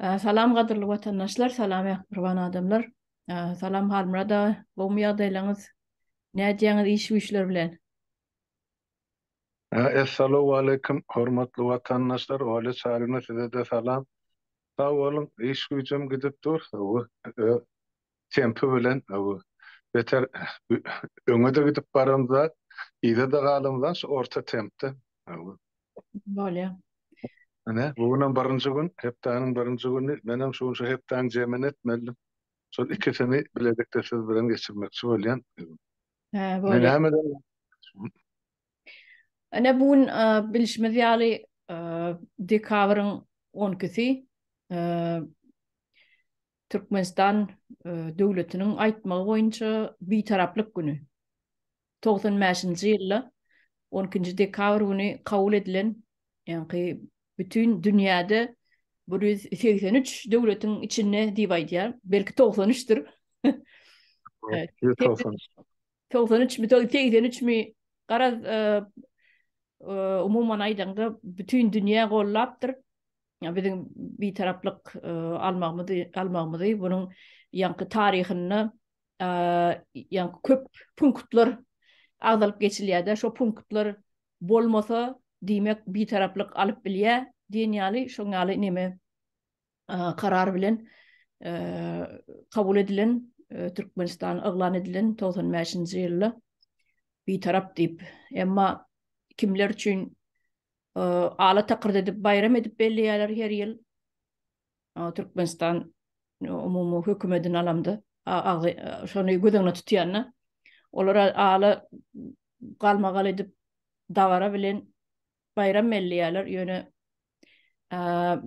Salam gadyrly watandaşlar, salam mähriban adamlar. Salam Halmyrat aga, gowmy ýagdaýlaryňyz? Nädýäňiz iş-güýçler bilen? Essalawaleýkim, hormatly watandaşlar, Olýa Çaryna size-de salam. Sag boluň, iş-güýjem gidip dur, tempi bilen beter öňe-de gidip baramzak, yza-da galamzak, şu orta tempde. Bolýar. Ine, bu günem birinji gün, hepdäniň birinji güni. Menem şunça hepdäň jemini etmelidim. Şol ikisini bilelikde siz bilen geçirmekçi bolýan. Hä, bolýar. Ine, bu gün bilşimiz ýaly, dekabryň on ikisi. Türkmenistan döwletiniň aýtmagy boýunça Bitaraplyk güni, togsan bäşinji ýylda on ikinji dekabr güni kabul edilen, ýaňky bütin dünýäde bir ýüz segsen üç döwletiň içinde diýip aýdýar, belki togsan üçdir. Togsan üç mi, segsen üç mi, garaz, umuman aýdaňda bütin dünýä gollapdyr. biziň bitaraplyk almagymyzy almagymyzy bunuň ýaňky taryhynda ýaňky köp punktlar agzalyp geçilýärdi şo punktlar bolmasa diýmek bitaraplyk alyp bilýär diýen ýaly şoň ýaly neme karar bilen kabul edilen Türkmenistan yglan edilen 95-nji ýylda bitarap diýip emma kimler üçin ala takyrt edip baýram edip belleýärler her ýyl. Türkmenistan umumy hökümetini alamda, şony göz öňüne tutýanda, olar ala galmagal edip dabara bilen baýram belleýärler, ýöne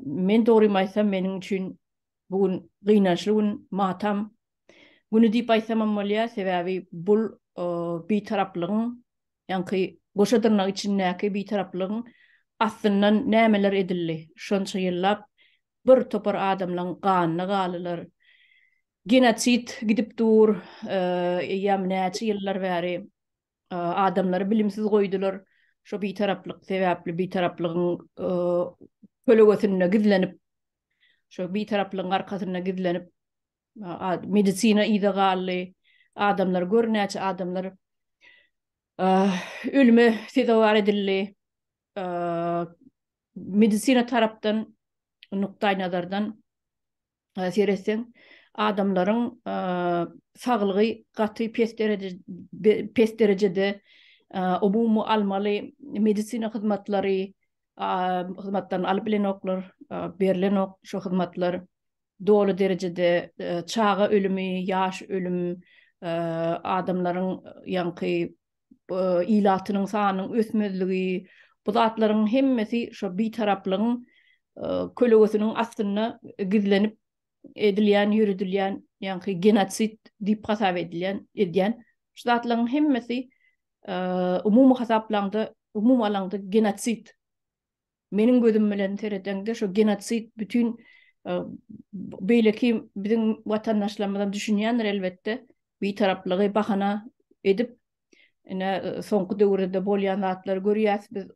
men dogrymy aýtsam, meniň üçin bu gün gynançly gün, matam güni diýip aýtsamam bolýar, sebäbi bu bitaraplygyň Ýaňky goşa dyrnak içindäki bitaraplygyň astyndan nämeler edildi? Şonça ýyllap bir topar adamlaň ganyna galylar. Genosid gidip dur, eýýäm näçe ýyllar bäri adamlary bilimsiz goýdular. Şo bitaraplyk sebäpli bitaraplygyň kölegesinde gizlenip, şo bitaraplygyň arkasynda gizlenip Medisina yza galdy. Adamlar gör näçe adamlar ölüme sezewar edildi. Medisina tarapdan nukdaý nazardan seretseň adamlaryň saglygy gaty pes pes derejede umumy almaly medisina hyzmatlary hyzmatlaryny alyp bilenoklar, berlenok şu hyzmatlar. doly derejede çaga ölümi, ýaş ölüm, adamlaryň ýaňky ilatynyň sanynyň ösmezligi, bu zatlaryň hemmesi şo bitaraplygyň kölegesiniň astynda gizlenip edilýän, ýöredilýän ýaňky genosid diýip hasap edilýän, edýän şu zatlaryň hemmesi umumy hasaplaňda, umumy alaňda genosid Meniň gözüm bilen seredeňde şu genosid bütin beýleki biziň watandaşlarymyzam düşünýändir elbetde, bitaraplygy bahana edip, ine soňky döwürde bolýan zatlary görýäs biz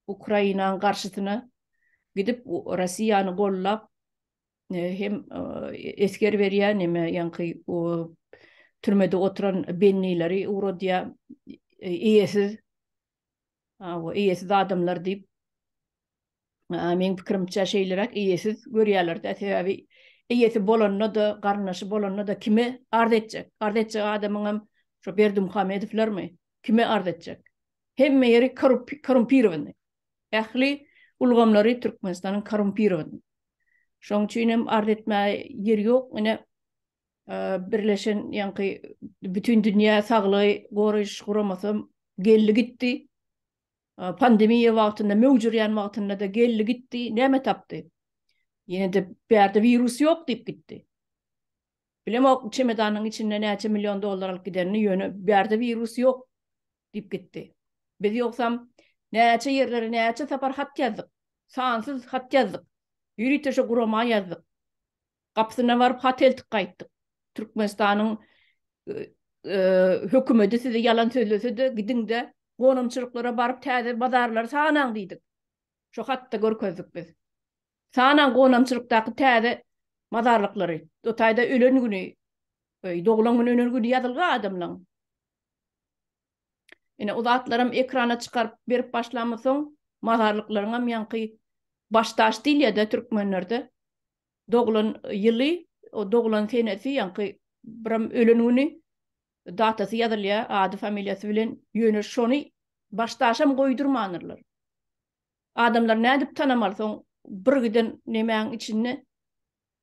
Ukrainanyň garşysyna gidip Russiýany gollap hem esger berýär neme ýaňky türmede oturan bennileri ugradýar eýesiz Hawa, eýesiz adamlar diýip, meň pikirimçe şeýleräk eýesiz görýärler-dä, sebäbi eýesi bolanda-da, garyndaşy bolanda-da kime arz etjek? Arz etjek adamyňam şo Berdimuhamedowlarmy? Kime arz etjek? Hemme ýeri korumpirowany. Ähli ulgamlary Türkmenistanyň korumpirowany. Şoň üçin hem arz etmäge ýeri ýok. Ine, Birleşen ýaňky bütin dünýä saglygy goraýyş guramasy geldi gitdi. Pandemiýa wagtynda möwjürýän wagtynda-da geldi gitdi, näme tapdy? Ýene-de bärde wirus ýok diýip gitdi. Bilemok çemedanyň içinde näçe million dollar alyp gidenini, ýöne bärde wirus ýok diýip gitdi. Biz ýogsam näçe ýerlere näçe sapar hat ýazdyk, sansyz hat ýazdyk, ýörite şo gurama ýazdyk. Gapysyna baryp hat eltip gaýtdyk. Türkmenistanyň hökümeti sizi ýalan sözlese-de, gidiň-de, gonamçylyklara baryp täze bazarlary sanaň diýdik. Şo hatda görkezdik biz. Sanaň gonamçylykdaky täze mazarlyklary. O taýda ölen güni, doglan güni, ölen güni ýazylgy adamlaň. Ine, o zatlaram ekrana çykaryp berip başlamysoň, mazarlyklaryňam ýaňky baş daş diýilýär-de türkmenlerde. Doglan ýyly, o doglan senesi, ýaňky biram ölen güni, datasy ýazylýar, ady, familiýasy bilen, ýöne şony baş daşam goýdurmanyrlar. Adamlar nädip tanamaly soň birgiden nemäň içinde,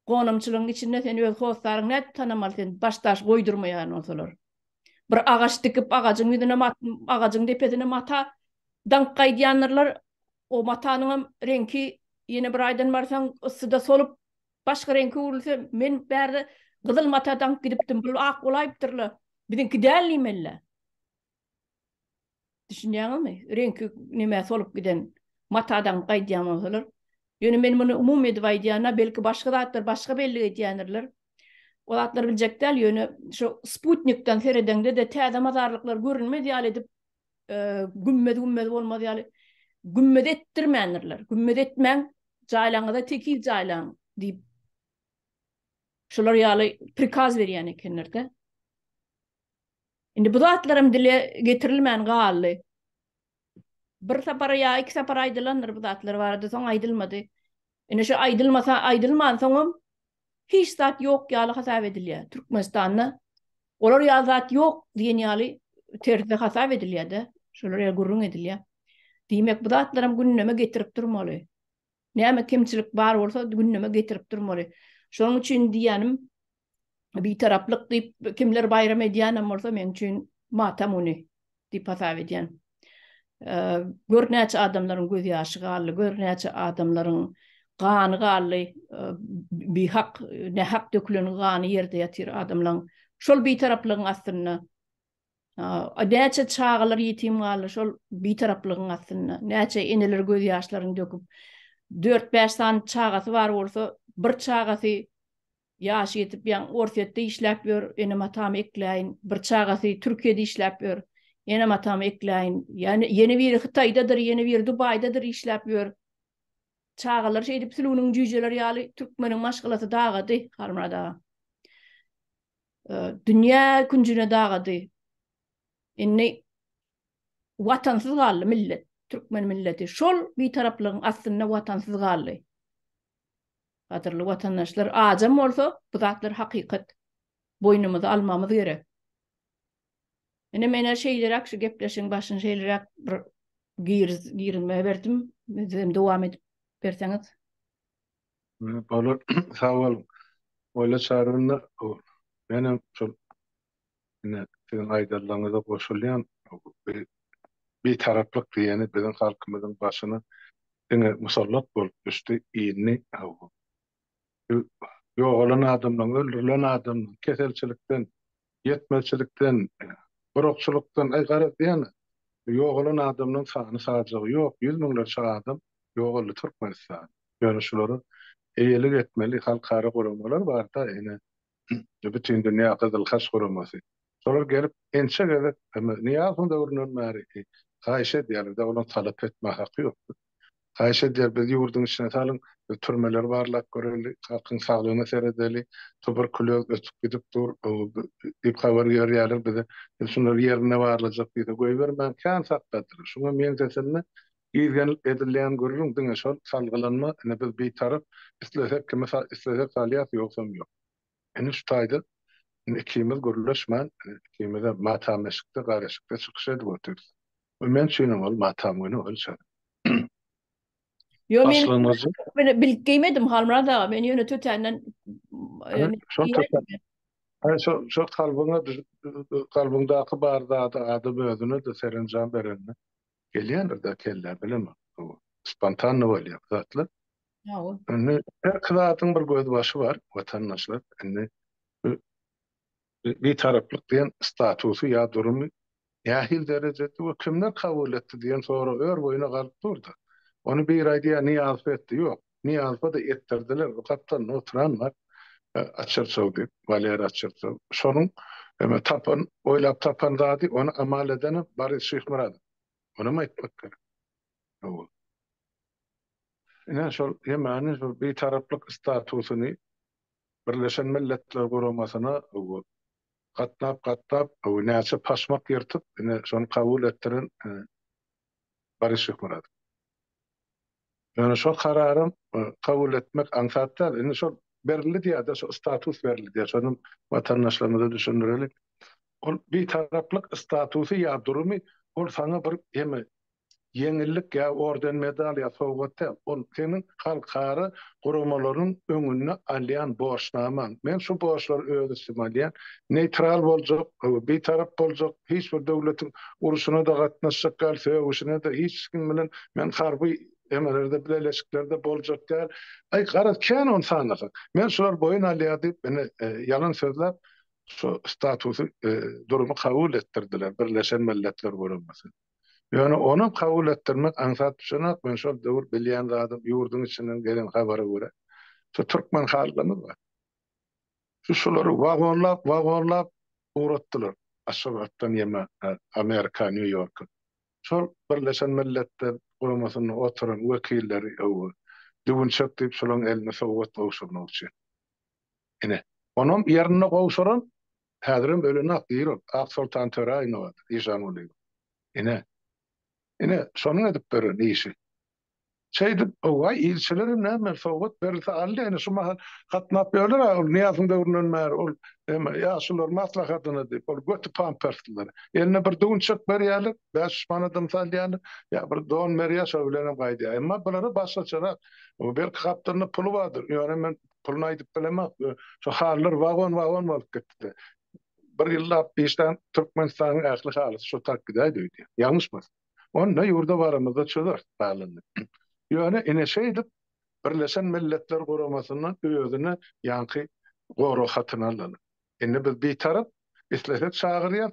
gonamçylygyň içinde sen öz hossaryňy nädip tanamaly sen baş daş goýdurmaýan bolsalar. Bir agaç dikip, agajyň ýüzüne mat, agajyň depesine mata daňyp gaýdýandyrlar. O matanyň hem reňki ýene bir aýdan barsaň, yssyda solup, başga reňke öwrülse, men bärde gyzyl mata daňyp gidipdim, bul ak bolaýypdyr-la, biziňki däl diýmeli-le. Düşünýäňizmi? Reňki näme solup giden matadan gaýdýan bolsalar. Ýöne men muny umumy edip aýdýan-a, belki başga zatlar başga bellik edýändirler. O zatlary biljek däl, ýöne şu sputnikden seredeňde-de täze mazarlyklar görünmez ýaly edip, gümmez-gümmez bolmaz ýaly, gümmez etdirmändirler. Gümmez etmäň, jaýlaryňyza tekiz jaýlaň diýip, şular ýaly prikaz berýän ekenler-de. Indi bu zatlaram dile getirilmän galdy. Bir sapar ýa iki sapar aýdylandyr bu zatlar barada, soň aýdylmady. Indi şu aýdylmasa, aýdylmansoňam hiç zat ýok ýaly hasap edilýär. Türkmenistanda olar ýaly zat ýok diýen ýaly terzde hasap edilýär-de, şolar ýaly gürrüň edilýär. Diýmek, bu zatlaram gündeme getirip durmaly. Näme kemçilik bar bolsa gündeme getirip durmaly. Şonuň üçin diýýänim, Bitaraplyk diýip kimler baýram edýänem bolsa meň üçin matam güni diýip hasap edýän. Gör näçe adamlaryň göz ýaşy galdy, gör näçe adamlaryň gany galdy, bihak, nähak dökülen gany ýerde ýatyr adamlaň. Şol bitaraplygyň astynda näçe çagalar ýetim galdy, şol bitaraplygyň astynda. Näçe eneler göz ýaşlaryny döküp, dört-bäş sany çagasy bar bolsa, bir çagasy Ýaşy ýetip ýaňy Orsýetde işläp ýör, enem-atamy ekläýin. Bir çagasy Türkiýede işläp ýör, enem-atamy ekläýin. Ýa-ni ýene biri Hytaýdadyr, ýene biri Dubaýdadyr işläp ýör. Çagalar şeýdip Sülgüniň jüýjeleri ýaly türkmeniň maşgalasy dagady, Halmyrat aga. E, dünýä künjüne dagady. Indi watansyz galdy millet, türkmen milleti. Şol bitaraplygyň astynda watansyz galdy. Gadyrly watandaşlar azam bolsa bu zatlar hakykat. Boýnumyza almamyz gerek. Ine menä şeýleräk şu gepleşigiň başyny şeýleräk bir giriz girinme berdim. Sizem dowam edip berseňiz. Bolar. Sag boluň. Oýla çarynda menem şol Ine, siziň aýdanlaryňyza goşulýan. Bir Bitaraplyk diýeni biziň halkymyzyň başyna diňe musallat bolup düşdi, indi bu ýogalan adamlaryň, öldürilen adamlaryň, keselçilikden, ýetmezçilikden, gurakçylykdan, aý garaz diýana, ýogalan adamlaryň sany-sajagy ýok, ýüz müňlerçe adam ýogaldy Türkmenistanda. Ýöne şulara eýelik etmeli halkara guramalar bar-da, ine, we Bütindünýä Gyzyl Haç guramasy. Şolar gelip, ençe gezek, hem-de Nyýazowyň döwründen bäri haýyş edýärler-de, olaryň talap etmäge haky ýokdur. Haýyş edýär, bizi ýurduň içine salyň, biz türmeleri barlap göreli, halkyň saglygyna seredeli, tuberkulýoz ösüp gidip dur diýip habar iberýärler bize. Biz şunlary ýerinde barlajak diýsek, goýbermän, kän sakladyrlar. Şuňa meňzeşende, Gizlenip edilýän gürrüň diňe şol salgylanma ine biz bitarap islesek kimi islesek salýas ýogsam ýok. Ine şu taýda ine ikimiz gürleşmän ine ikimizem matam eşikde gar eşikde çykyş edip otyrs. We men üçinem ol matam güni ol şeýle. Ýok men men bilip geýmedim Halmyrat aga men ýöne tötänden Aý şo şo kalbyňa düş kalbyňdaky bar zady adam özüne de serenjam berende. Gelýändir-de kellä, bilemok. Bu spontanno bolýar bu zatlar. Hawa. Indi her zadyň bir gözbaşy bar, watandaşlar. Indi Bitaraplyk diýen statusy ýa durumy nähili derejede we kimler kabul etdi diýen sorag ör boýuna galyp dur-da. Ony biri aýdýar, Nyýazow etdi. Ýok. Nyýazowa-da etdirdiler, bu gapdalynda oturan bar, Açyrsow diýip, Waleriý Açyrsow. Şonuň eme tapan, oýlap tapan zady, ony amal edeni Boris Şyhmyradow. Munam aýtmak gerek. Hawa. Ine, şol Ýemeniň şol bitaraplyk statusyny Birleşen Milletler Guramasyna gatnap-gatnap, näçe paşmak ýyrtyp, ine, şony kabul etdiren Boris Şyhmyradow. Ýöne şo karary kabul etmek aňsat däl. Indi şol berildi diýýär-de, şo status berildi diýýär. Şonam watandaşlarymyza düşündireli. Ol Bitaraplyk statusy ýa durumy, ol saňa bir ýeňillik ýa orden-medal ýa sowgat däl. Ol seniň halkara guramalarynyň öňüni alýan borçnama, men şu borçlary öz üstüme alýan, neýtral boljak, bitarap boljak, hiç bir döwletiň urşuna-da gatnaşjak däl, sögüşine-de, hiç kim bilen men harby emelerde, bileleşiklerde boljak däl, aý, garaz, kän ony sanasaň, men şulary boýun alýan diýip, ine, ýalan sözläp, şu statusy, durumy kabul etdirdiler, Birleşen Milletler Guramasy. Ýöne ony kabul etdirmek aňsat düşenok, men şol döwür bilýän zadym, ýurduň içinden gelen habara görä, şu türkmen halkymyz bar, şu şulary wagonlap, wagonlap ugratdylar Aşgabatdan ýeme Amerika, Nýu-Ýorka. Şol Birleşen Milletler Guramasynda oturan wekilleri öwgi, düwünçek diýip şolaryň eline sowgat gowşurmak üçin. Ine, onam ýerinde gowşuran Häzirem ölenak diýrok, Aksoltan Töräýewowadyr, Eýşan Gulyýewa. Ine. Ine, şonuň edip beren işi. Şeýdip, howa, ilçilerem näme, sowgat berilse aldy, ene, şu mahal gatnap ýörler-ä, ol Nyýazyň döwründen bäri, ol hem ýaşular maslahatyna diýip, ol göti pamperslilere. Eline bir düwünçek berýärler, bäş manadam salýarlar, ýa bir don berýär, şo bilenem gaýdýar. Emma bulara başgaçarak, belki, gapdalynda puly bardyr, ýöne men Puluny aýdyp bilemok. Şu halylar wagon-wagon bolup gitdi. Bir ýyllap işlän Türkmenistanyň ähli halysy şo tak gidäýdi öýdýän. Ýalňyşmasam. Onda ýurda baramyzda çözer halyny. Ýöne ine şeýdip Birleşen Milletler Guramasyndan özüne ýaňky gorag hatyny alyň. Indi biz Bitarap, islesek çagyrýas,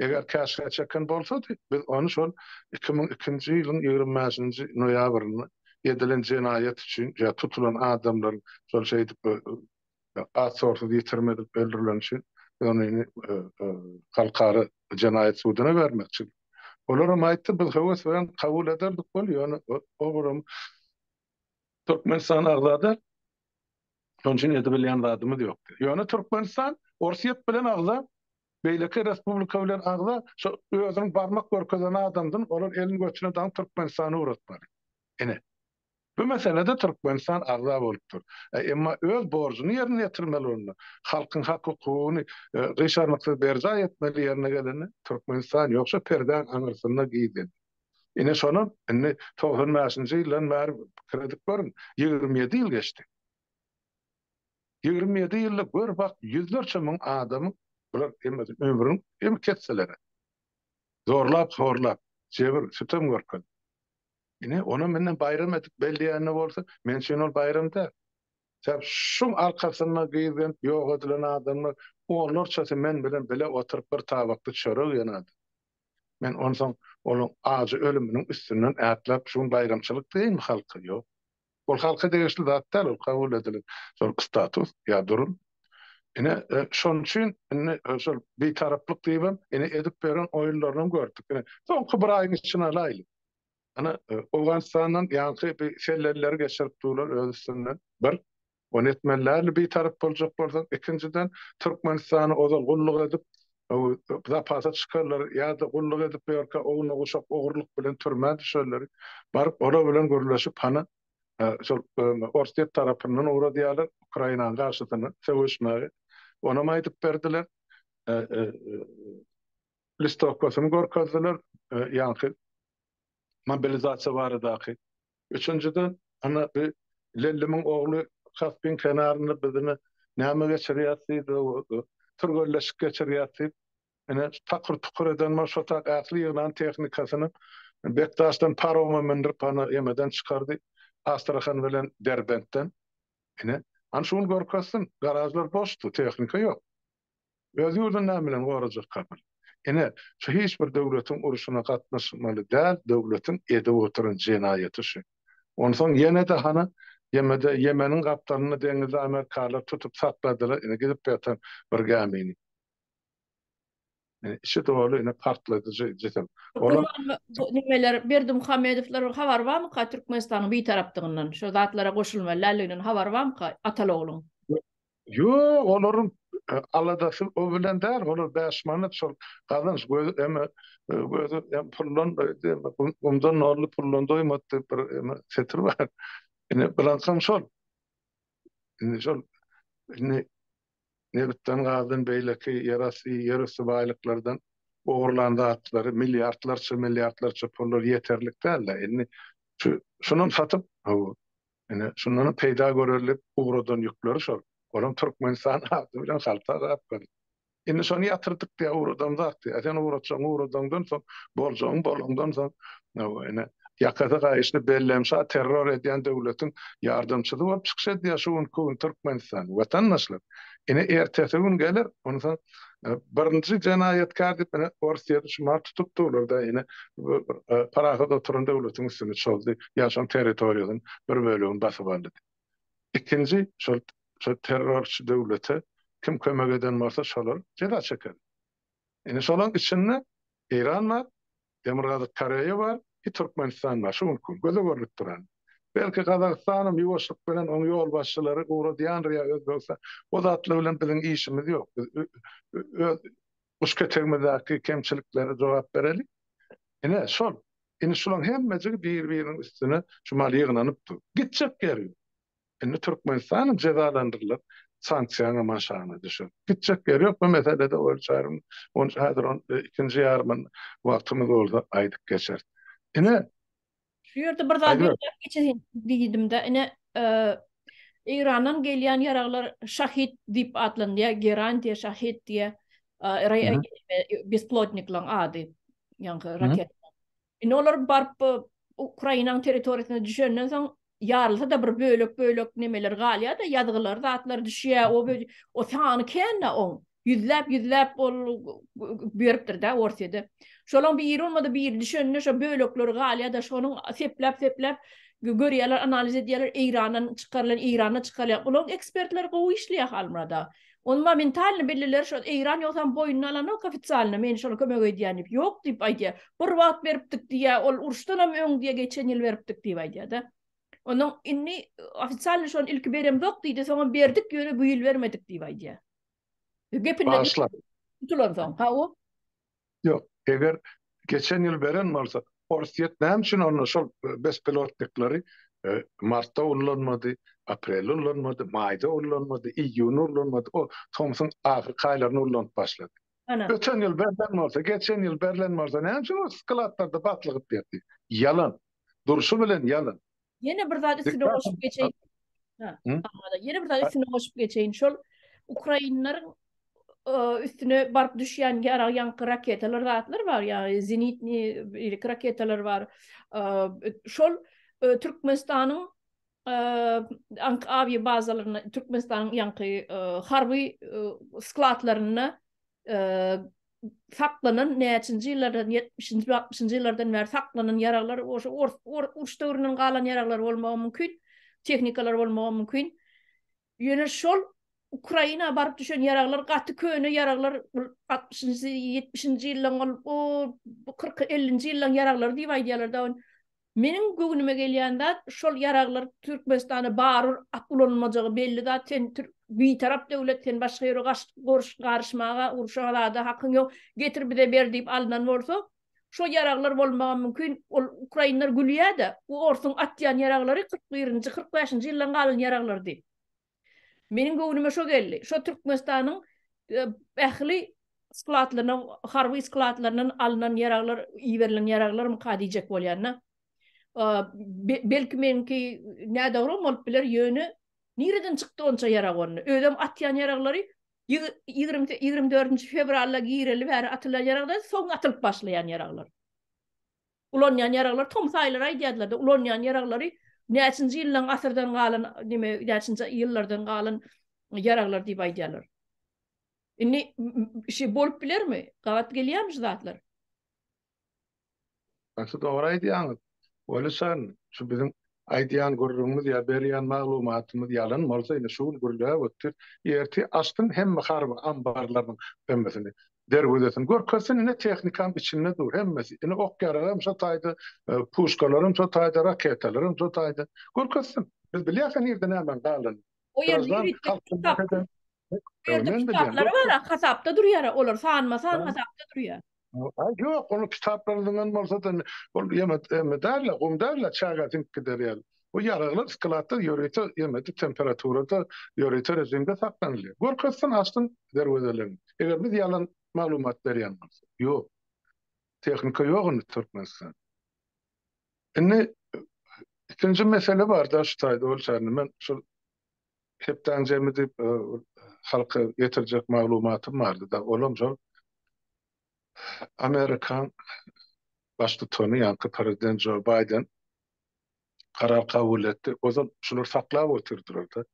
Eger käşgä çeken bolsady, biz ony şol iki müň ikinji ýylyň ýigrimi bäşinji noýabrynda edilen jenaýat üçin ýa tutulan adamlaryň şol şeýdip az-tozsuz ýitirim edilip öldürileni üçin biz ony indi Halkara jenaýat suduna bermekçi. Olar hem aýtdy, biz höwes bilen kabul ederdik ol, ýöne olam Türkmenistan agza däl, şonuň üçin edebilýän zadymyz ýok diýdi. Ýöne Türkmenistan Orsýet bilen agza, Beýleki respublika bilen agza şo özüniň barmak görkezen adamdyn olar elin götüne daňyp Türkmenistany ugratmaly. Ine. Bu meselede Türkmenistan agza bolup dur. Emma öz borjuny ýerine ýetirmeli bolanda, halkyň hak hukugyny gyşarnyksyz berjaý etmeli ýerine gelende Türkmenistan ýogşa perdäň aňyrsynda gizledi. Ine şonam indi togsan bäşinji ýyldan bäri pikir edip görüň ýigrimi ýedi ýyl geçdi. Ýigrimi ýedi ýylda gör bak ýüzlerçe müň adamyň bular hemmesi ömrüniň hem kesseleri zorlap horlap jebir sütem görkezdi. Ine ony menden baýram edip belleýänine bolsa men üçin ol baýram däl. Sebäp şuň arkasynda gyzgynp ýok edilen adamlar onlarçasy men bilen bile oturyp bir tabakda çörek ýen adam. Men onsoň olaň ajy ölüminiň üstünden ätläp şu gün baýramçylyk diýeýinmi halka ýok. Ol halka degişli zat däl, ol kabul edilen şol status ýa durum. Ine, şonuň üçin indi şol Bitaraplyk diýibem, ine, edip beren oýunlaryny hem gördük. Ine, soňky bir aýyň içini alaýly. Ine, Owganystandan ýaňky bir sellelileri geçirip durlar öz üstünden. Bir. Ony etmelidäl bitarap boljak bolsaň, ikinjiden Türkmenistana ozal gulluk edip, zapasa çykarlar ýa-da gulluk edip bu ýerkä ownuguşak ogurlyk bilen türmä düşerleri, baryp olar bilen gürleşip hany şol Orsýet tarapyndan ugradýarlar Ukrainanyň garşysyna söweşmäge. Onam aýdyp berdiler. Listowkasyny görkezdiler. Ýaňky mobilizasiýa baradaky. Üçünjiden, ynha, bi Lellimiň ogly Kaspiň kenarynda biz ine näme geçirýäs diýdi, türgenleşik geçirýäs diýip, ine, takyr-tukur eden bolup, şo tak ähli ýygnan tehnikasyny Bekdaşdan paroma mündürip, hany, emeden çykardy, Astrahan bilen Derbentden. Ine, hany, şu gün görkezsin. Garažlar boşdy, tehnika ýok. Öz ýurduny näme bilen gorajak kapyr? Ine, şu hiç bir döwletiň urşuna gatnaşmaly däl döwletiň edip oturan jenaýaty şu. Onsoň ýene-de hany, ýemede, Ýemeniň gapdalynda deňizde amerikalylar tutup sakladylar ine gidip ýatan bir gämini. Ine, içi doly ine partladyjy jisim. Olar. Bu nimeler Berdimuhamedowlaryň habary barmyka Türkmenistanyň bitarapdygyndan, şo zatlara goşulmaly däldiginden habary barmyka Atalogluň? Ýok, olaryň aladasy o bilen däl, olar bäş manat şol gazanç gözi eme gözi em puldan gumdan nolly puldan doýmady diýip bir eme setir bar. Ine bilansam şol. Indi şol indi nebitden gazdan beýleki ýerasty ýerüsti baýlyklardan ogurlan zatlary milliardlarça milliardlarça pullar ýeterlik däldi. Indi şu şuny satyp Ine, şundanam peýda görerlik ugradan ýükleri şol. Olam Türkmenistan ady bilen halta gap galyp. Indi şony ýatyrdyk diýýär, ugradan zat diýýär. Sen ugratjagyňy ugradaňdan soň, boljagyňy bolaňdan soň, hawa, ine, ýakasy gaýyşly Bellem şa terror edýän döwletiň ýardamçysy bolup çykyş edýär şu günki gün Türkmenistan. Watandaşlar, ine, ertesi gün geler, onsoň Birinji jenaýatkär diýip ine Orsýeti şumat tutup durlar-da ine parahat oturan döwletiň üstüne çozdy, ýaşan territoriýasynyň bir bölegini basyp aldy diýip. Ikinji şol şol terrorçy döwlete kim kömek eden bolsa şolar jeza çekeli. Ine şolaň içinde Eýran bar, Demirgazyk Koreýa bar, bir Türkmenistan bar, şu günki gün göze görlüp duran. Belki Gazagystanam ýuwaşlyk bilen oň ýolbaşçylary ugradýandyr ýa Özbegistan. O zatlar bilen biziň işimiz ýok. Biz öz guş ketegimizdäki kemçiliklere jogap bereli. Ine, şol. Indi şulaň hemmejigi bir-biriniň üstüne şu mal ýygnanyp dur. Gitjek ýeri ýok. Indi Türkmenistan jezalandyrylar, sanksiýaňam aşagyna düşer. Gitjek ýeri ýok bu meselede Oýul çaryň. Ony häzir ony ikinji ýarymyny wagtymyz bolsa aýdyp geçeris. Ine. Şu ýerde bir zat belläp geçeýin diýdim-de, ine, Eýrandan gelýän ýaraglar Şahid diýip atlandýar, Geran diýe, Şahid diýe, bespilotniklaryň ady, ýaňky raketa. Indi olar baryp bu Ukrainanyň territoriýasyna düşenden soň ýarylsa-da bir bölek-bölek nemeler galýar-da, ýazgylar, zatlar düşýär. O böje o sany kän-de oň. Ýüzläp-ýüzläp ol beripdir-de Orsýede. Şolaryň biri bolmady biri düşende şo bölekleri galýar-da, şonuň sepläp-sepläp görýärler, analiz edýärler, Eýrandan çykarylan, Eýranda çykarýar. Olaryň ekspertleri gowy işleýär Halmyrat aga. Ony momentalno belliler şol Eýran ýogsam boýnuna alanok ofisialno men şola kömek edýän diýip ýok diýip aýdýar. Bir wagt beripdik diýýä ol uruşdanam öň diýýä geçen ýyl beripdik diýip aýdýada. Ondan indi ofisialno şony ilki beremzok diýdi soňam berdik ýöne bu ýyl bermedik diýip aýdýa. Gepinden tutulansoň ha o. Ýok, eger geçen ýyl beren bolsa, Orsýet näme üçin onda şol bespilotniklary martda ullanmady, aprelde ullanmady, maýda ullanmady, iýunda ullanmady, o tomsuň ahyrky aýlarynda ulanyp başlady. Öten ýyl berlen bolsa, geçen ýyl berlen bolsa, näme üçin ol skladlarda batlygyp ýördi? Ýalan. Durşy bilen ýalan. Ýene bir zat üstüne goşup geçeýin. Ha, ýene bir zat üstüne goşup geçeýin. Şol ukrainleriň e, üstüne baryp düşýän ýarag ýaňky raketalar zatlar bar, ýagny zenitni ýelik raketalar bar. E, şol e, Türkmenistanyň ank awiýa bazalaryna Türkmenistanyň ýaňky harby skladlaryna saklanan näçinji ýyllardan ýetmişinji altmyşynjy ýyllardan bäri saklanan ýaraglar oşo uruş döwründen galan ýaraglar bolmagy mümkin tehnikalar bolmagy mümkin ýöne şol Ukraina baryp düşen ýaraglar gaty köne ýaraglar altmyşynjy ýetmişinji ýyllaryň o kyrk ellinji ýyllaryň ýaraglary diýip aýdýarlar da Meniň göwnüme gelýän zat şol ýaraglar Türkmenistana barur at ulanylmajagy belli zat sen bitarap döwlet sen başga ýere garyşmaga urşa zada hakyň ýok getir bize ber diýip alnan bolsa şo ýaraglar bolmagam mümkin ol ukrainler gülýädä bu orsuň atýan ýaraglary kyrk birinji kyrk bäşinji ýyldan galan ýaraglardy. Meniň göwnüme şo geldi. Şo Türkmenistanyň ähli skladlaryna, harby skladlaryndan alnan ýaraglar, iberilen ýaraglarmyka diýjek bolýan-da. Belki meniňki nädogrum bolup biler, ýöne nireden çykdy onça ýarag onda? Özem atýan ýaraglary ýigrimi dördünji fewralda gireli bäri atylan ýaraglar, soň atylyp başlaýan ýaraglar. Ulanýan ýaraglar tomus aýlary aýdýardylar-da, ulanýan ýaraglary näçinji ýyldan asyrdan galan näme näçinji ýyllardan galan ýaraglar diýip aýdýarlar. Indi şi bolup bilermi? Gabat gelýärmi şu zatlar? Gaty dogry aýdýaňyz. Welişan, şu biziň Aýdýan gürrüňimiz ýa berýän maglumatymyz ýalan bolsa, indi şu gün gürläp otdy, ertir açsyn hemme harby ambarlarynyň hemmesini, derwezesin görkezsin, ine tehnikam içinde dur, hemmesi, ine ok-ýaragam şo taýda, puşkalaram şo taýda, raketalaram şo taýda. Görkezsin. Biz bilýäs-ä nirde nämäň galanyny. Graždan halkymyza hem. Bu ýerde kitaplary bar-a, hasapda durýar-a, olar sanma-san hasapda durýar. Ýok, onuň kitaplaryndan bolsa-da, ol ýene däl-le, gum däl-le, çaga siňip gider ýaly. Bu ýaraglar skladda ýörite ýene-de temperaturada, ýörite režimde saklanylýar. Görkezsin, açsyn derwezelerini. Eger biz ýalan maglumat berýän bolsak. Ýok. Tehnika ýok indi Türkmenistanda. Indi ikinji mesele bar-da şu taýda, ol çäre men şol Hepdäň jemi diýip halka getirjek maglumatym bardy-da, olam şol Amerikaň Baştutany, ýaňky Prezident Jo Baýden karar kabul etdi. Ozal şular saklap otyrdylar-da.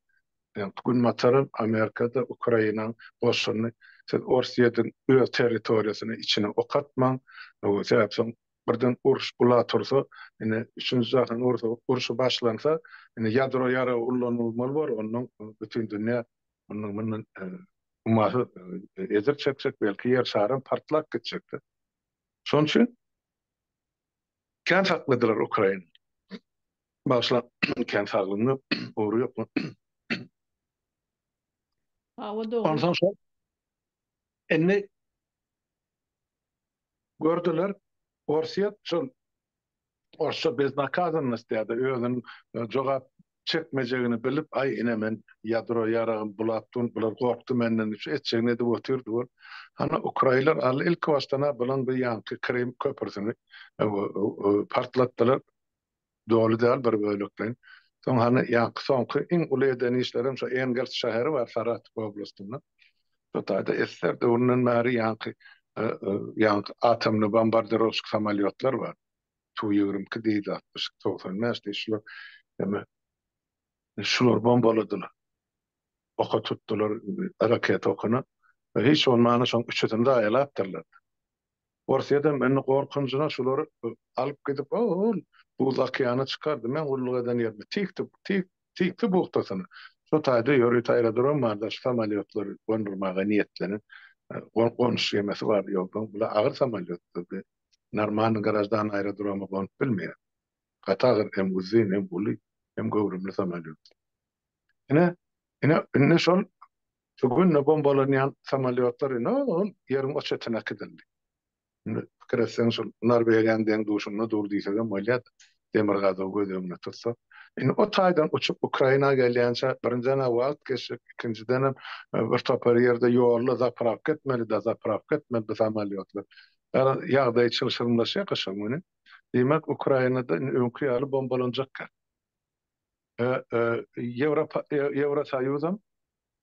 Ýaňky günbataram, Amerika-da Ukrainaň goşunyny siz Orsýetiň öz territoriýasyna içine ok atmaň, sebäbi soň birden uruş bula tursa, ine, üçünji jahan urşy başlansa, ine, ýadro ýaragy ullanylmaly bolar, ondan bütin dünýä mundan mundan ummasyz ejir çekjek, belki ýer şaram partlap gitjekdi. Şonuň üçin kän sakladylar Ukraina. Bagyşla, kän saglygyna ugur ýokmy? Hawa, dogry. Onsoň şol. Indi Gördüler, Orsýet şol orsça beznakazannost diýýärdi, özüniň jogap çekmejegini bilip, aý, ine, men ýadro ýaragym bulap durun, bular gorkdy menden diýip, şu etjegini edip otyrdy bol. Hany, ukraýlar al, ilkibaşdan-a bulaň bir ýaňky Krym köprüsini partlatdylar. Doly däl bir bölekleýin. Soň hany ýaňky soňky iň uly eden işlerim şo Engels şäheri bar Saratow oblastynda. Şo taýda SSR döwründen bäri ýaňky ýaňky atomly bombardirowşik samolýotlar bar. Tu ýigrimi iki diýdi atmyş togsan bäş diýdi şular eme şular bombaladylar. Oka tutdular raketa okuna. Hiç bolmanda şoň üçüsini zaýalapdyrlar. Orsýedem indi gorkunjyna şulary alyp gidip ol buz okeana çykardy, men gulluk eden ýerime tikdi, tik, tikdi buhtasyna. Şo taýda ýörüt aerodrom barda şu samolýotlary gondurmaga niýetlenen gonuş gemisi bardy, ýogdan bular agyr samolýotlardy, normalny graždan aerodroma gonup bilmeýär. Gaty agyr hem uzyn hem uly hem göwrümli samolýotlar. Ine, ine, indi şol Şu günde bombalanýan samolýotlar ine ol ýeriň o çetine äkidildi. Indi pikir etseň şol Norwegiýanyň deň duşunda dur diýsegem bolýar-da, demirgazygy göz öňünde tutsak. Indi o taýdan uçup Ukraina gelýänçä birinjiden-ä wagt geçjek, ikinjidenem bir topar ýerde ýolda zaprawka etmeli, dozaprawka etmeli bu samolýotlar. Ýa-da ýagdaý çylşyrymlaşýar gyşyň güni. Diýmek Ukrainada indi öňki ýaly bombalanjak ýer. Ýewrosoýuzam,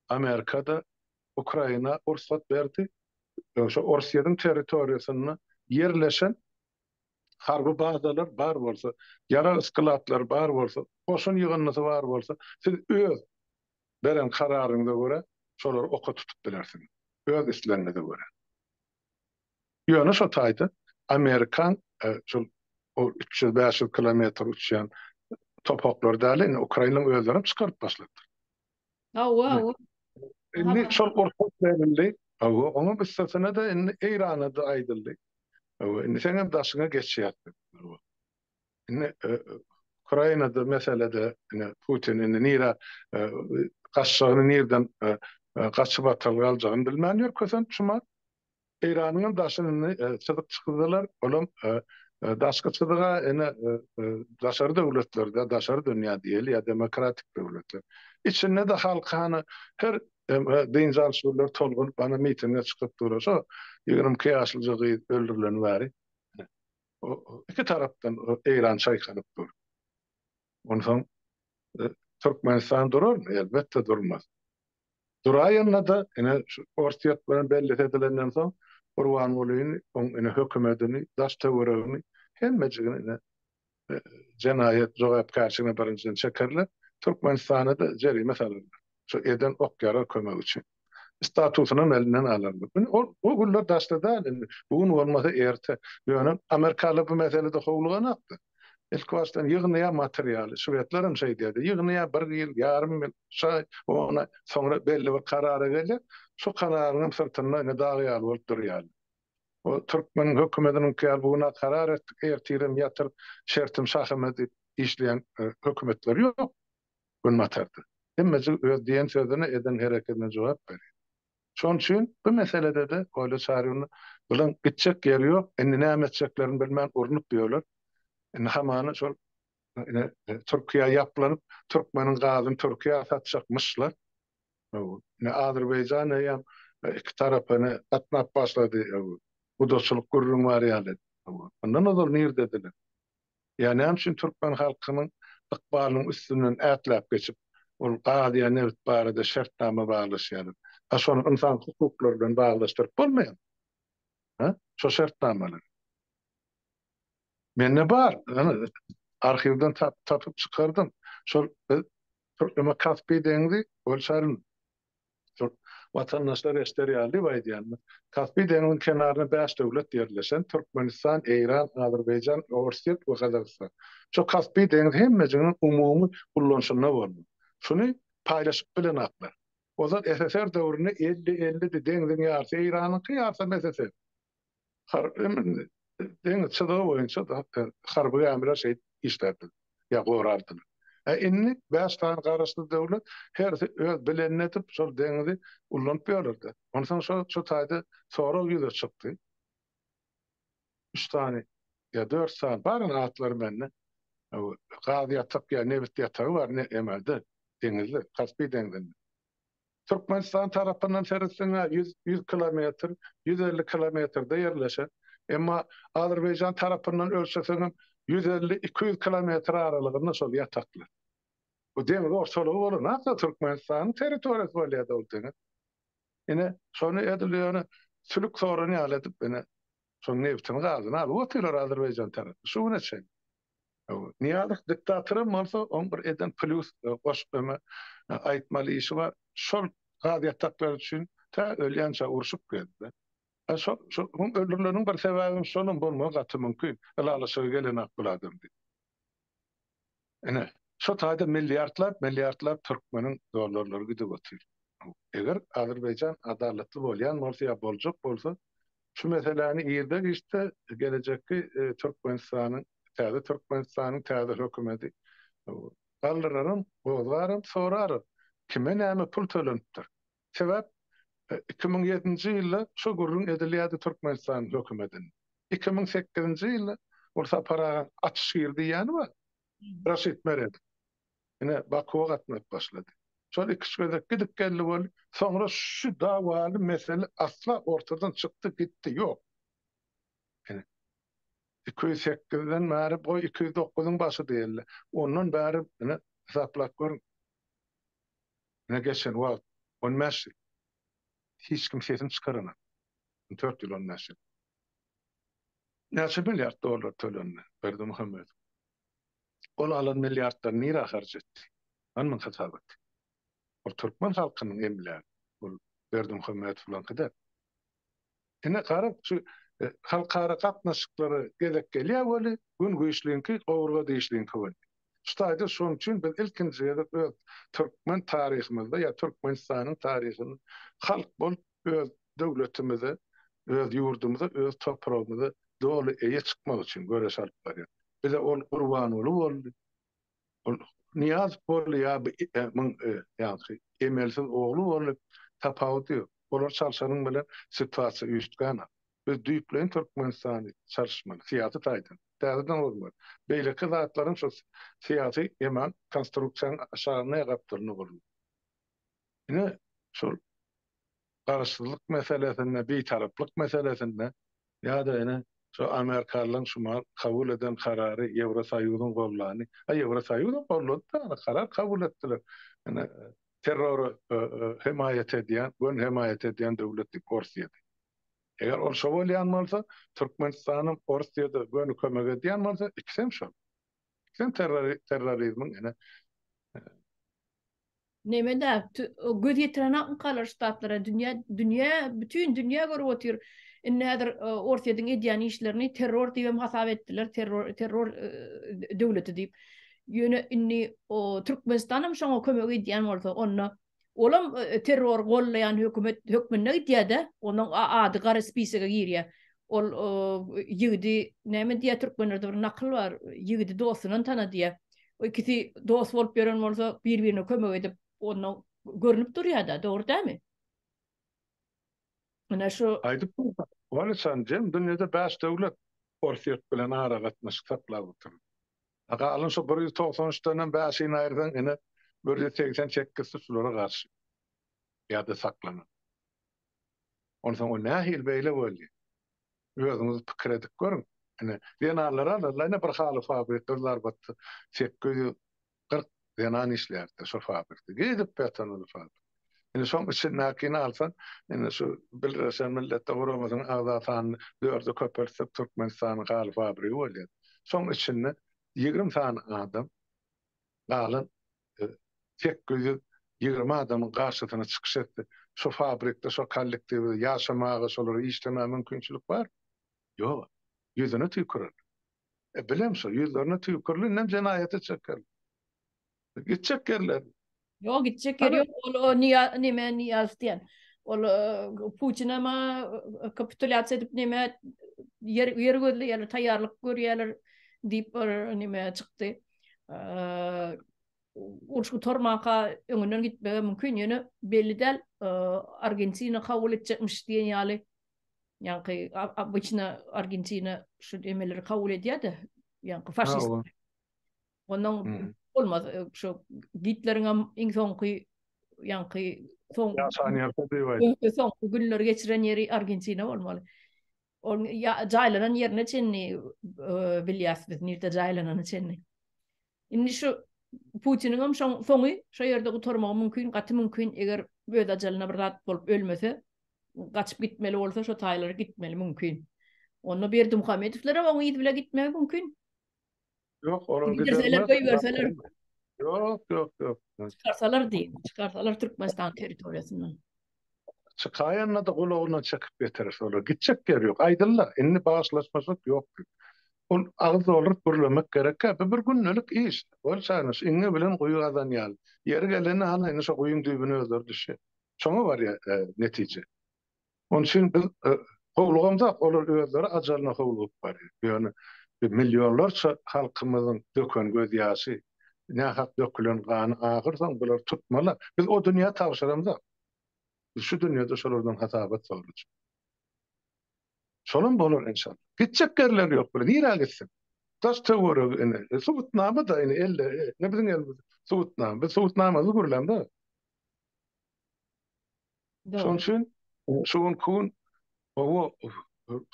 Amerika-da Ukraina rugsat berdi. Şo Orsýetiň territoriýasynda ýerleşen harby bazalar bar bolsa, ýarag sklatlary bar bolsa, goşun ýygyndysy bar bolsa, siz öz beren kararyňyza görä şolary oka tutup bilersiňiz, öz islegiňize görä. Ýöne şo taýda amerikan şol üç ýüz, bäş ýüz kilometr uçýan topaklary däl, indi ukrainlaryň özleri hem çykaryp başladylar. Hawa, hawa. Indi şol rugsat berildi. Hawa, onuň üstesine-de indi Eýrana-da aýdyldy. Hawa, indi seň hem daşyňa geçýäs diýip. Indi Ukrainada meselede ine Putin indi nirä gaçjagyny nirden gaçyp atal galjagyny bilmän ýör kösenç şuma. Eýranyň hem daşyny indi çyzyk çyzdylar olam daşky çyzyga ine daşary döwletlerde daşary dünýä diýeli ýa demokratik döwletler. Içinde-de halky hany her dynç alyş günleri tolgunyp hany mitinge çykyp dur şo ýigrimi iki ýaşlyja gyz öldürileni bäri. iki tarapdan Eýran çaýkanyp dur. Onsoň Türkmenistan durarmy? Elbetde durmaz. Duraýanda-da ine şu Orsýet bilen bellesi edilenden soň Gurbangulyny, oň ine hökümetini, daş-töweregini, hemmejigini ine jenaýat jogapkärçiligine birinjiden çekerler, Türkmenistana-da jerime salarlar. Şu eden ok-ýarag kömegi üçin. statusynam elinden alarlar. Indi ol o günler daşda däl indi. Bu gün bolmasa erte. Ýöne amerikalylar bu meselede howluganokdy. Ilkibaşdan ýygnaýar materialy. Şwedlerem şeýdýärdi. Ýygnaýar bir ýyl, ýarym ýyl, üç aý, on aý. Soňra belli bir karara gelýär. Şo kararyňam syrtynda indi dag ýaly bolup durýarlar. O türkmen hökümetiniňki ýaly bu gün-ä karar etdik, ertirem ýatyr, şertim şahymyz diýip işleýän hökümetler ýok. Günbatarda. Hemmejik öz diýen sözüne, eden hereketine jogap berýär. Şonuň üçin bu meselede-de Oýly Çaryny Bulan gitjek ýeri ýok, indi näme etjeklerini bilmän urnup ýörler. Indi hamana şol ine Türkiýä ýaplanyp, türkmeniň gazyny Türkiýä satjakmyşlar. Ine Azerbaýjan eýýäm iki tarapa ine gatnap başlady. Gudaçylyk gürrüň bar ýaly. Mundan ozal nirdediler? Ýa näme üçin türkmen halkynyň ykbalynyň üstünden ätläp geçip, ol gaz ýa nebit barada şertnama baglaşýarlar? A şony ynsan hukuklary bilen baglaşdyryp bolmaýarmy? Hä? Şo şertnamalary. Mende bar, ýöne arhiwden tapyp çykardym. Şol biz Türkmenbaşy Kaspiý deňzi, Bolşaryn Türk watandaşlary eşder ýaly we aýdýanlar. Kaspi deňziň kenarynda bäş döwlet ýerleşen, Türkmenistan, Eýran, Azerbaýjan, Orsýet we Gazagystan. Şu Kaspi deňzi hemmejiginiň umumy ullanyşynda boldy. Şuny paýlaşyp bilenaklar. Ozal SSR döwründe elli, ellidi, deňziň ýarsy Eýranyňky, ýarsam SSR. Harby gämini deňiz çyzygy boýunça harby gämiler şeýdip işlärdiler, ýa gorardylar. Ä indi bäş sany garaşsyz döwlet hersi öz bilenini edip şol deňizi ullanyp ýörler-dä. Onsoň şo taýda sorag ýüze çykdy. Üç sany ýa dört sany, barynyň atlary mende, gaz ýatak ýa nebit ýatagy bar emelde, deňizde, Kaspi deňzinde. Türkmenistan tarapyndan seretseň-ä ýüz, ýüz kilometr, ýüz elli kilometrde ýerleşen. Emma Azerbaýjan tarapyndan ölçeseňem ýüz elli, iki ýüz kilometr aralygynda şol ýataklar. Bu deňiz ortalygy bolan asla Türkmenistanyň territoriýasy bolýar-da ol deňiz. Ine, şony edil ýöne sülük soran ýaly edip ine, şoň nebtini, gazyny alyp otyrlar Azerbaýjan tarapy şu güne çenli. Nyýazow diktatora bolsa oň bir eden plýus goşup öňe aýtmaly işi bar. Şol gaz ýataklary üçin tä ölýänçä urşup gezdi. Şol şol öldürileniň bir sebäbem şolam bolmagy gaty mümkin. Ylalaşyga gelenok bul adam diýip. Ine, şo taýda milliardlap, milliardlap türkmeniň dollarlary gidip otyr. Eger Azerbaýjan adalatly bolýan bolsa ýa boljak bolsa, Şu meseläni irde giçde gelejekki Türkmenistanyň, täze Türkmenistanyň täze hökümedi galdyraryn, gozgaryn, soraryn, kime näme pul tölenipdir. Sebäp iki müň ýedinji ýylda şu gürrüň edilýärdi Türkmenistanyň hökümedinde. Iki müň sekizinji ýylda ol Sapar agaň açyş gir diýýäni bar, Raşid Meredow. ine, Bakuwa gatnap başlady. Şol iki-üç gezek gidip geldi boldy. Soňra şu dawaly mesele asla ortadan çykdy gitdi, ýok. Ine, iki ýüz sekizden bäri, goý, iki ýüz dokuzyň başy diýeli, ondan bäri, ine, hasaplap görüň, ine, geçen wagt on bäş ýyl, hiç kim sesini çykaranak. On dört ýyl, on bäş ýyl. Näçe milliard dollar tölendi Berdimuhamedow? Ol alan milliardlaryny nirä harç etdi? Bar muň hasabaty. Ol türkmen halkynyň emlägi. Ol Berdimuhamedowlaňky däl. Ine garaň, şu halkara gatnaşyklary gezek gelýär weli, gün güýçliňki, gowurga dişliňki bolýar. Şu taýda şoň üçin biz ilkinji gezek öz türkmen taryhymyzda ýa Türkmenistanyň taryhynda halk bolup, öz döwletimize, öz ýurdumyza, öz topragymyza doly eýe çykmak üçin göreş alyp barýar. Bize ol Gurbanguly boldy, ol Nyýazow boldy ýa muň ýaňky emelsiz ogly boldy, tapawudy ýok. Olar çalşanyň bilen situasiýa üýştgänok. Biz düýpleýin Türkmenistany çalyşmaly, syýasy taýdan. Täzeden gurmaly. Beýleki zatlaryň şu syýasy eman konstruksiýanyň aşagynda ýa gapdalynda gurulmaly. Ine, şol garaşsyzlyk meselesinde, bitaraplyk meselesinde ýa-da ine, şu amerikalylaryň şumal kabul eden karary Ýewrosoýuzyň gollandy. A Ýewrosoýuzam gollady-da, ony karar kabul etdiler. Ine, terrory hemaýat edýän, göni hemaýat edýän döwlet diýip, Orsiýa diýip. Eger ol şo bolýan bolsa, Türkmenistanam Orsiýada göni kömek edýän bolsa, ikisem şol. Ikisem terrorizmiň ine, Nemede göz ýetirenakmykalar ştatlara dünýä dünýä bütin dünýä görüp otyr. Indi häzir Orsýetiň edýän işlerini terror diýem hasap etdiler, terror terror döwleti diýip. Ýöne indi o Türkmenistan hem şoňa kömek edýän bolsa, onda olam terror gollaýan hökümet hökmünde gidýär-de, onuň ady gara spisege girýär. Ol ýigidi näme diýýär türkmenlerde bir nakyl bar, ýigidi dostundan tana diýýär. O ikisi dost bolup ýören bolsa, bir-birine kömek edip, onda görnüp durýar-da, dogry dälmi? Ine şu Aýdyp dursaň, ony sen diýen dünýede bäş döwlet Orsýet bilen aragatnaşyk saklap otyr. A galan şu bir ýüz togsan üç denem bäşini aýyrsaň, ine bir ýüz segsen sekizsi şulara garşy ýa-da saklanan. Onsoň ol nähili beýle boldy? Özüňiz pikir edip görüň. Ine, zenanlary alarlar, ine, bir haly fabrikde bir zarbatda sekiz ýüz kyrk zenan işlärdi-de şol fabrikde. Gidip ýatan ol fabrik. Indi şoň içindäkini alsaň, indi şu Birleşen Milletler Guramasynyň agza sanyny dörde köpeltsek, Türkmenistanyň haly fabrigi bolýar. Şoň içinde ýigrimi sany adam, galan sekiz ýüz ýigrimi adamyň garşysyna çykyş etse, şo fabrikde, şo kollektiwde ýaşamaga, şolara işlemäge mümkinçilik bar? Ýok. Ýüzüne tüýkürerler. E, bilem şo, ýüzlerine tüýküriler, indem jenaýata çekerler. Gitjek ýerleri. Ýok, gitjek ýeri ýok. Ol, o Nyýaz, neme, Nyýaz diýen. Ol Putinema kapitulýasiýa edip, neme, ýer, ýer gözleýärler, taýýarlyk görýärler diýip bir neme çykdy. uruş gutarmanka öňünden gitmegi mümkin, ýöne belli däl, Argentina kabul etjekmiş diýen ýaly, ýaňky obýçna Argentina şu emeleri kabul edýär-de, ýaňky faşist. Ondan bolmaz, şu Gitleriň hem iň soňky, ýaňky soň günleri geçiren ýeri Argentina bolmaly. Ol jaýlanan ýerine çenli bilýäs biz nirde jaýlanany çenli. Indi şu Putiniňem soňy şo ýerde gutarmagy mümkin, gaty mümkin, eger öz ajalyna bir zat bolup ölmese, gaçyp gitmeli bolsa şo taýlara gitmeli mümkin. Onda Berdimuhamedowlaram oň yzy bile gitmegi mümkin. Ýok, olar giderseler, goýberseler. Ýok, ýok, ýok. Çykarsalar diýin, çykarsalar Türkmenistan territoriýasyndan. Çykaýanda-da gulagyna çekip getirir şolar. Gitjek ýeri ýok. Aýdylla, indi bagyşlaşmajak ýok. Ol agyz dolduryp gürlemek gerek. Bu bir gündelik iş. Ol çaýnaş, iňňe bilen guýy gazan ýaly. Ýeri gelende halaýyny şo guýyň düýbüne özleri düşýär. Şoňa barýar netije. Onuň üçin biz howlugamzok, olar özleri ajalyna howlugyp barýar. Ýöne millionlarça halkymyzyň döken gözýaşy, nähak dökülen gany agyrsoň, bular tutmalar. Biz o dünýä tabşyramzok. Biz şu dünýede şolardan hasabat sorajak. Şolam bolar enşalla. Gitjek ýerleri ýok bular. Nirä gitsin? Daş-töweregi ine, subutnama-da ine elde, ine biziň elimizde subutnama. Biz subutnamamyzy gürlämzok. Şonuň üçin şu günki gün gowy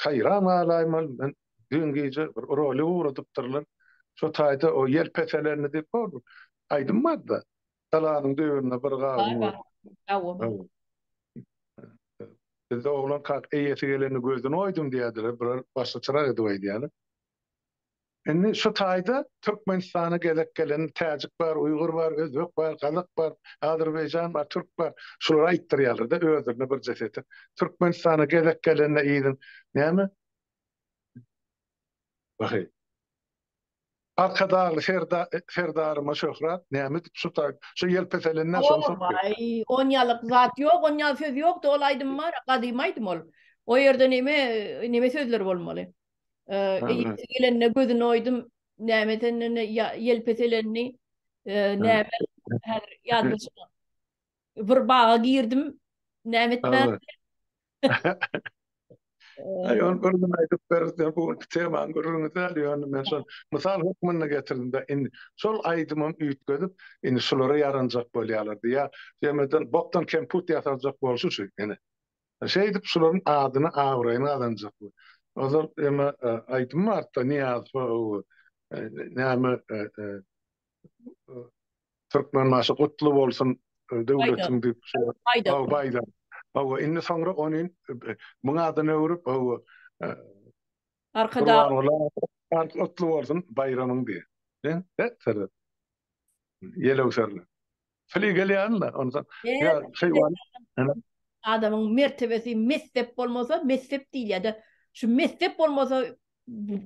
haýran galaýmaly, men düýn gije bir rolik ugradypdyrlar, şo taýda o ýel peselenini diýip hor bir aýdym barda, Galanyň düýbünde bir gawun bar. Bizde oglan kak eýesi gelende gözüni oýdum diýerdiler, bular başga çyrak edip aýdýarlar. Indi şu taýda Türkmenistana gezek gelen täjik bar, uýgur bar, özbek bar, gazak bar, azerbaýjan bar, türk bar. Şulara aýtdyrýarlar-da özlerine birje setir. Türkmenistana gezek gelende yzyň näme? Waheý. Arkadagly serda serdaryma şöhrat, näme edip şu taý şu ýelpeselenden soň soň. Waý, onýalyk zat ýok, onýaly söz ýokdy, ol aýdym bar, gadymy aýdym ol. O ýerde neme neme sözler bolmaly? Eee, gelende gözüni oýdum, näme edenini, ýelpeselenini, eee, näme, häzir ýadyma düşmän. Bir baga girdim, näme etmän. Aý, ony bir gün aýdyp beris, ýa bu günki temany gürrüňi däl, ýöne men şol mysal hökmünde getirdim-de, indi şol aýdymym üýtgedip, indi şulara ýaranjak bolýarlar diýýär. Jemeden bokdan kemput ýasaljak bolşy şu, ine. Şeýdip şularyň adyny abraýyny gazanjakmy. Ozal eme aýdym barda Niýazowa owo näme Türkmenbaşy gutly bolsun döwletiň diýip şo Baýdan owo indi soňra ony muň adyna öwrüp owo Arkadag gutly bolsun baýramyň diýe. Ýelewserler. Sili gelýänmi onsoň? Ýa şeýwan. Adamyň mertebesi messep bolmasa, messep diýilýär-de. Şu messep bolmasa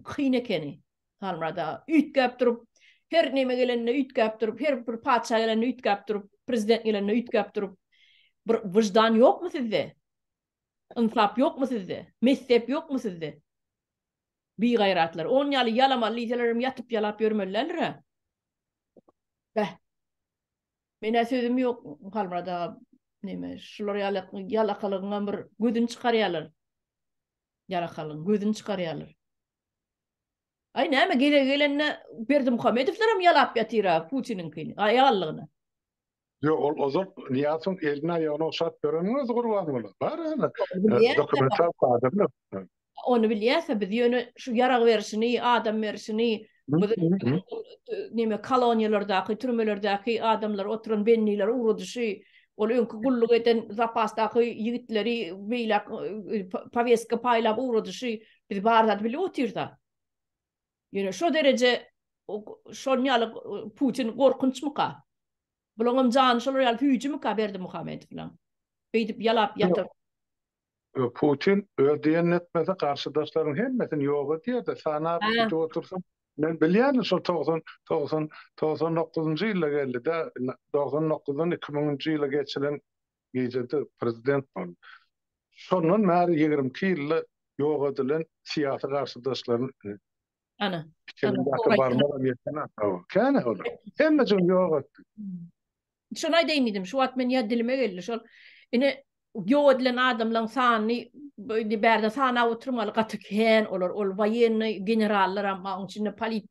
kyn ekeni. Halmyrat aga üýtgäp durup, her näme gelende üýtgäp durup, her bir patyşa gelende üýtgäp durup, prezident gelende üýtgäp durup. Bir wyždan ýokmy sizde? Ynsap ýokmy sizde? Messep ýokmy sizde? Bigaýratlar. Ony ýaly ýalamaly diýselerem ýatyp ýalap ýörmelilerdir-ä. Beh. Men-ä sözüm ýok Halmyrat aga neme şular ýaly ýalakalygyňam bir gözüni çykarýarlar. Ýalakalygyň gözüni çykarýarlar. Aý näme gezegi gelende Berdimuhamedowlaram ýalap ýatyr-a Putiniňkini, aýallygyny. Ýok, ol ozal Nyýazowyň elini aýagyny okşap bereniň özi Gurbanguly. Bar ýa-da dokumental kadrlar. Ony bilýäs-ä, biz ýöne şu ýarag berişini, adam berişini, neme koloniýalardaky, türmelerdäki adamlar oturan bennileri ugradyşy, ol öňki gulluk eden zapasdaky ýigitleri beýläk powestka paýlap ugradyşy, biz bar zady bilip otyrys-a. Ýöne şo dereje şonuň ýaly Putin gorkunçmyka? Bulaňam jany şolar ýaly süýjümika Berdimuhamedowlaň? Beýdip ýalap ýatyr. Putin öz diýenini etmese garşydaşlaryň hemmesini ýok edýärdi. Sanap tutup otursa men bilýän şol togsan togsan togsan dokuzynjy ýylda geldi-de, togsan dokuzdan iki müňünji ýyla geçilen Gijede prezident boldy. Şondan bäri ýigrimi iki ýylda ýok edilen syýasy garşydaşlaryny Ana. Pikirindäki barmagam ýeten adam. Kän-ä olar. Hemmejigini ýok etdi. Şony aýdaýyn diýdim. Şu wagt men ýa dilime geldi şol. Ine ýok edilen adamlaň sanyny indi bärde sanap oturmaly gaty kän olar. Ol waýennoý generallaram bar. Oň içinde polit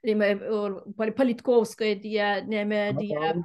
neme ol politkowskoý diýýär, neme diýýär.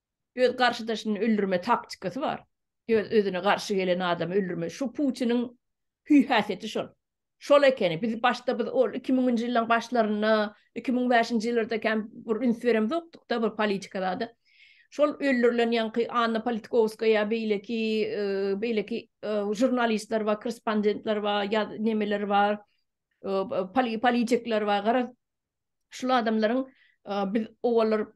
Öz garşydaşyny öldürme taktikasy bar. Öz özüne garşy gelen adamy öldürme. Şu Putiniň hüý häsiýeti şol. Şol ekeni. Biz başda biz ol iki müňünji ýyllaň başlarynda, iki müň bäşinji ýyllarda kän bir üns beremzokdukda bir politika zada. Şol öldürilen ýaňky Anna Politkowskaýa beýleki beýleki žurnalistler bar, korrespondentler bar, ýa nemeler bar, politikler bar. Garaz şul adamlaryň biz owallar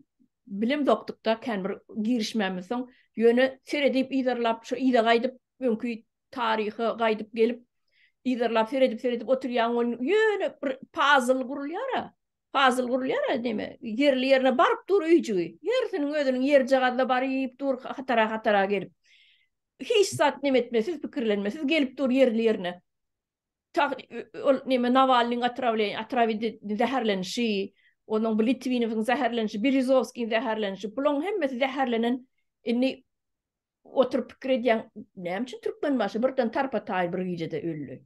bilim dokdukda kän bir girişmämiz soň ýöne seredip yzarlap şu yza gaýdyp öňki taryha gaýdyp gelip yzarlap seredip seredip oturýan ol ýöne bir pazl gurulýar a pazl gurulýar a deme ýerli ýerine baryp dur öýjügi ýersiniň özüniň ýerjagazda baryp dur hatara hatara gelip hiç zat nemetmesiz pikirlenmesiz gelip dur ýerli ýerine Ol neme Nawalnyň otrawleniýi, otrawidi zäherlenişi, onuň bu Litwinowyň zäherlenişi, Berizowskiň zäherlenişi, bulaň hemmesi zäherlenen indi oturyp pikir edýän näme üçin Türkmenbaşy birden tarpa taýyn bir gijede öldi.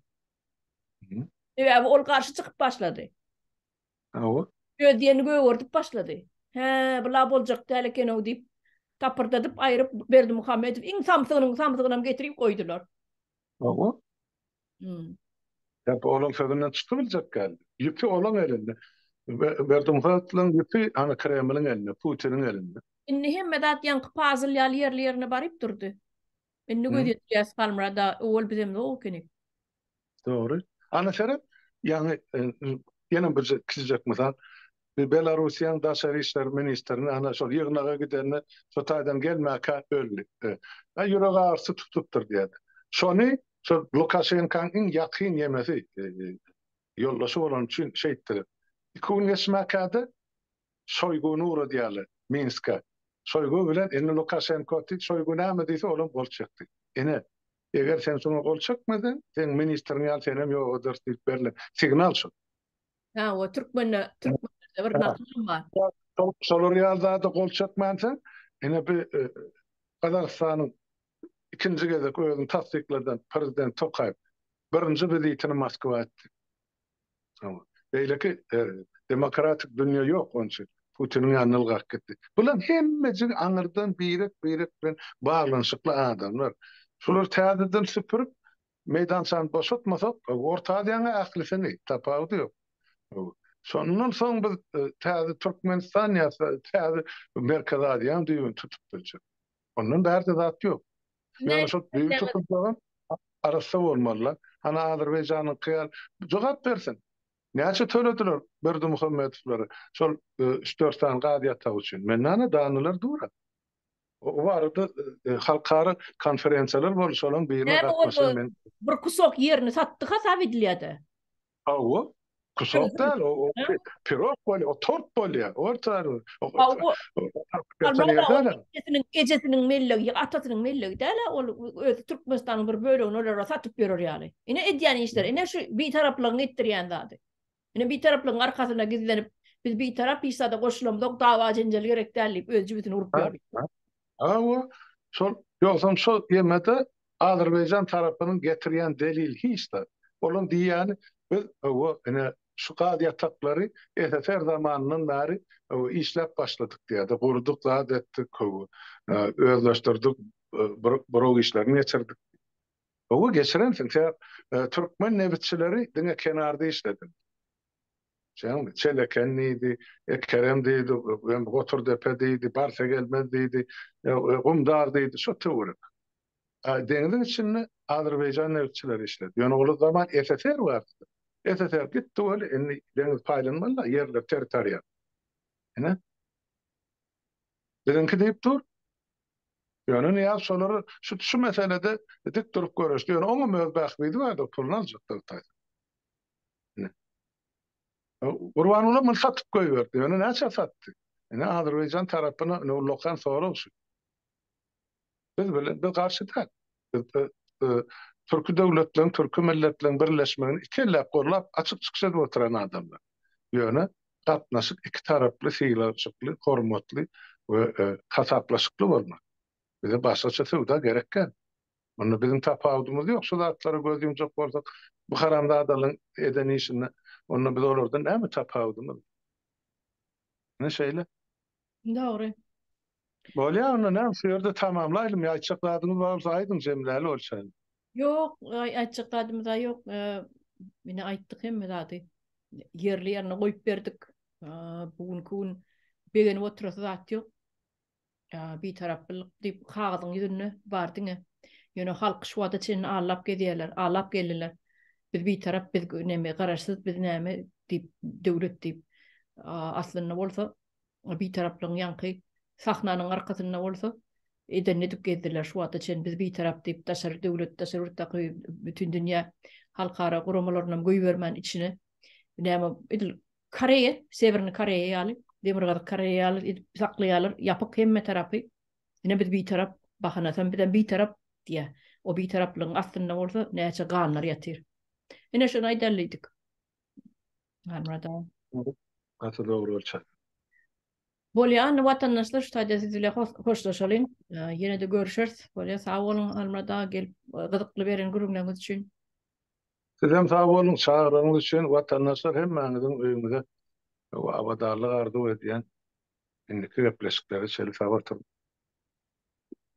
Sebäbi ol garşy çykyp başlady. Hawa. Özýeni gögerdip başlady. Hä, bu la boljak däl ekenow diýip, tapyrdadyp aýryp Berdimuhamedow iň samsygynyň samsygynam getirip goýdular. Hawa. Sebäbi olaň sözünden çykybiljek däl. Ýüpi olaň elinde. Berdimuhamedowyň ýüpi hany Kremliň elinde, Putiniň elinde. Indi hemme zat ýaňky pazyl ýaly ýerli-ýerine baryp durdy. Indi göz ýetirýäs Halmyrada, owal bizem zok ekeni. Dogry. Ana seret, ýaňy ýene bir kiçijek mysal. Biz Belarusiýanyň daşary işler ministrini ana şol ýygnaga gidende şo taýdan gelmäkä öldi. Ä ýürek agyrysy tutupdyr diýýärdi. Şony şo Lukaşenkanyň iň ýakyn ýemesi, ýoldaşy bolany üçin şeýtdiler. Iki gün geçmäkä-de Şoýguny ugradýarlar Minske. Şoýgu bilen indi Lukaşenko otdy. Şoýgu näme diýse olam gol çekdi. Ine, eger sen şoňa gol çekmeseň, seň ministriň ýaly senem ýok ederis diýip berlen signal şo. Ha, o türkmende, türkmende bir nakyl bar. Şolar ýaly zada gol çekmänse, ine bir e, Gazagystanyň ikinji gezek özüni tassykladan prezident Tokaýew birinji wizitini Moskwa etdi. Beýleki e, demokratik dünýä ýok onça. Putiniň ýanyna ylgap gitdi. Bular hemmeji aňyrdan birek-birek bilen baglanyşykly adamlar. Şular täzeden süpürip, Meýdançany boşatmasak, Orta Aziýanyň ählisini, tapawudy ýok. Şondan soň biz täze Türkmenistan ýa täze Merkezi Aziýanyň düýbüni tutup biljek. Ondan bärde zat ýok. Ýöne şol düýbi tutulsagam arassa bolmaly-la. Hany Azerbaýjanyňky ýaly jogap bersin. Näçe tölediler Berdimuhamedowlara şol üç-dört sany gaz ýatagy üçin? Mende hanadanlylar dur-a. O barada halkara konferensiýalar boldy, şolaryň birine gatnaşan men. Näme boldy? Bir kusok ýerini satdy hasap edilýär-de. Hawa, kusok däl, o pirog bolýar, o tort bolýar. Ejesiniň mellegi, atasynyň mellegi däl-ä ol, özi Türkmenistanyň bir bölegini olara satyp ýörer ýaly. Ine edýän işleri, ine şu bitaraplygyň etdirýän zady. Ine Bitaraplygyň arkasynda gizlenip, biz Bitarap işzada goşulamzok, dawa jenjel gerek däl diýip öz jübüsini urup ýördi. Hawa, şol, ýogsam şol ýemede Azerbaýjan tarapynyň getirýän delili hiç zat. Olaň diýýäni biz hawa, ine şu gaz ýataklary SSR zamanyndan bäri hawa işläp başladyk diýýärdi, gurduk, zat etdik, hawa, özleşdirdik, buraw işlerini geçirdik. Gowy geçirensiň se Türkmen nebitçileri diňe kenarda işlediň. Şeňmi? Çeleken diýdi, e Kerem diýdi, em Goturdepe diýdi, Barsegelmez diýdi, e Gumdar diýdi, şo töwerek. A deňiziň içinde Azerbaýjan nebitçileri işledi. Ýöne ol zaman SSR bardy. SSR gitdi weli, indi deňiz paýlanmaly-da, ýerler, territoriýa. Ine. Biziňki diýip dur. Ýöne Nyýaz şolary şu şu meselede dik durup göreşdi. Ýöne oňam öz bähbidi bardyr, puluny aljakdyr taýsa. Gurbanguly muny satyp goýberdi. Ýöne näçä satdy? Ine Azerbaýjan tarapyna ine ullakan sorag şu. Biz bilen biz garşy däl. Türki döwletleriň, türki milletleriň birleşmegini iki elläp gollap, açyk çykyş edip oturan adamlar. Ýöne gatnaşyk iki taraply, sylajykly, hormatly we hasaplaşykly bolmaly. Bize başgaça söwda gerek däl. Munda biziň tapawudymyz ýok. Şu zatlara göz ýumjak bolsak, bu haramzadalaryň eden işinde onda biz olardan näme tapawudymyz? Ine şeýle. Dogry. Bolýa onda näme şu ýerde tamamlaýlym ýa aýtjak zadyňyz bar bolsa aýdyň jemläli bolşaýly. Ýok, aýtjak zadymyz a ýok. Ine aýtdyk hemme zady. Ýerli ýerine goýup berdik. Bu günki gün begenip oturasy zat ýok. Bitaraplyk diýip kagyzyň ýüzünde bar diňe. Ýöne halky şu wagta çenli allap gezýärler, allap geldiler. Biz bitarap, biz neme garaşsyz, biz näme diýip döwlet diýip. Aslynda bolsa Bitaraplygyň ýaňky sahnanyň arkasynda bolsa edenini edip gezdiler. Şu wagta çenli biz bitarap diýip daşary döwlet, daşary ýurtdaky bütindünýä halkara guramalarynam goýbermän içine näme edil Koreýa, Sewerni Koreýa ýaly, Demirgazyk Koreýa ýaly edip saklaýarlar, ýapyk hemme tarapy. Ine biz bitarap, bahanasam bizem bitarap diýýär. O bitaraplygyň astynda bolsa näçe ganlar ýatyr. Ine şony aýdalydyk. Armada. Gaty dogry bolçak. Bolýa indi watandaşlar şu taýda siz bile hoşlaşalyň. Ýene-de görüşeris. Bolýa sag boluň Almyrada gelip gyzykly beren gürrüňleriňiz üçin. Sizem sag boluň çagyrygyňyz üçin watandaşlar hemmäňiziň öýüňize abadanlyk arzuw edýän. Indiki gepleşiklere çenli sag oturyň.